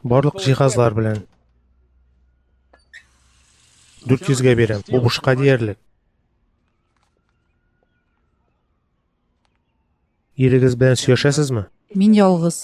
Барлык җиһазлар белән. 400-гә бирәм. Бу бушка диярлек. Ирегез белән сөйләшәсезме? Мин ялгыз.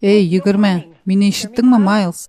Эй, егерме, мені ишеттің ма, Майлз?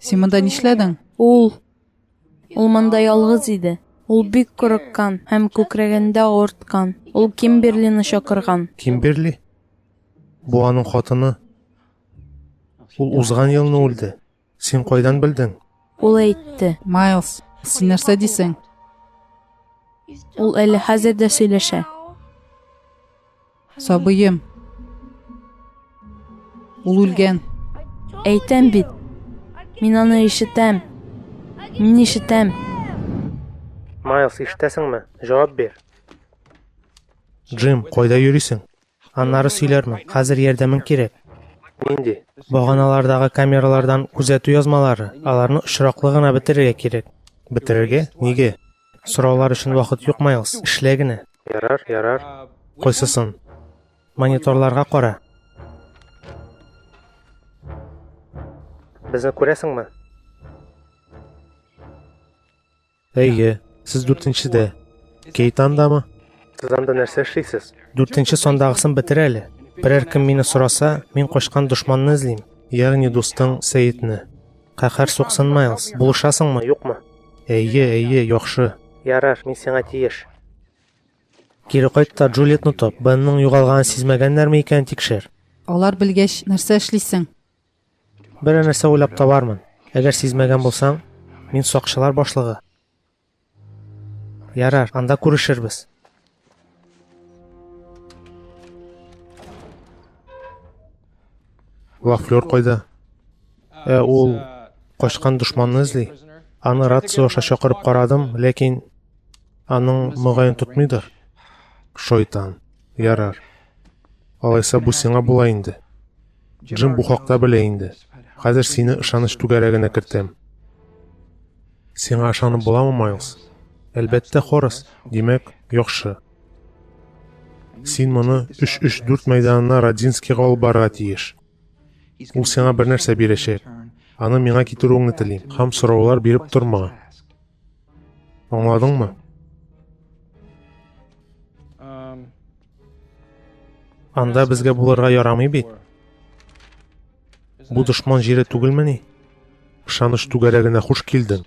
Син монда нишләдең? Ул Ул монда ялгыз иде. Ул бик курыккан һәм күкрәгендә авырткан. Ул Кимберлины чакырган. Кимберли? Бу аның хатыны. Ул узган елны үлде. Син кайдан белдең? Ул әйтте. Майлз, син нәрсә дисең? Ул әле хәзер дә сөйләшә. Сабыем. Ул үлгән. Әйтәм бит. Мин аны ишетәм. Мин ишетәм. Майлз, ишетәсеңме? Җавап бир. Джим, кайда йөрисең? Аннары сөйләрмен. Хәзер ярдәмең кирәк. Нинди? Баганалардагы камералардан күзәтү язмалары. Аларны очраклы гына бетерергә кирәк. Бетерергә? Нигә? Сораулар өчен вакыт юк, Майлз. Эшлә генә. Ярар, ярар. Кайсысын? Мониторларга кара. Безне күрәсеңме? Әйе, сез дүртенчедә. Кейт андамы? Сез анда нәрсә эшлисез? Дүртенче сандагысын бетер әле. Берәр кем мине сораса, мин качкан дошманны эзлим. Ягъни дустың Сәетне. Каһәр суксын, Майлз. Булышасыңмы, юкмы? Әйе, әйе, яхшы. Ярар, мин сиңа тиеш. Кире кайт та Джульетны тап. Бенның югалганын сизмәгәннәрме икән, тикшер. Алар белгәч, нәрсә эшлисең? Берәр нәрсә уйлап табармын. Әгәр сизмәгән булсаң, мин сакчылар башлыгы. Ярар, анда күрешербез. Вафлер кайда? Ә ул качкан дошманны эзли. Аны рация аша чакырып карадым, ләкин аның мөгаен тотмыйдыр. Шайтан. Ярар. Алайса бу сиңа була инде. Джим бу хакта белә инде. Хәзер сине ышаныч түгәрәгенә кертәм. Сиңа ышанып буламы, Майлз? Әлбәттә, Хорас. Димәк, яхшы. Син моны 3-3-4 мәйданына Радзинскийга алып барырга тиеш. Ул сиңа бер нәрсә бирәчәк. Аны миңа китерүеңне телим. Һәм сораулар биреп торма. Аңладың мы? Анда безгә булырга ярамый бит. Бу дошман җире түгелмени? Ышаныч түгәрәгенә хуш килдең.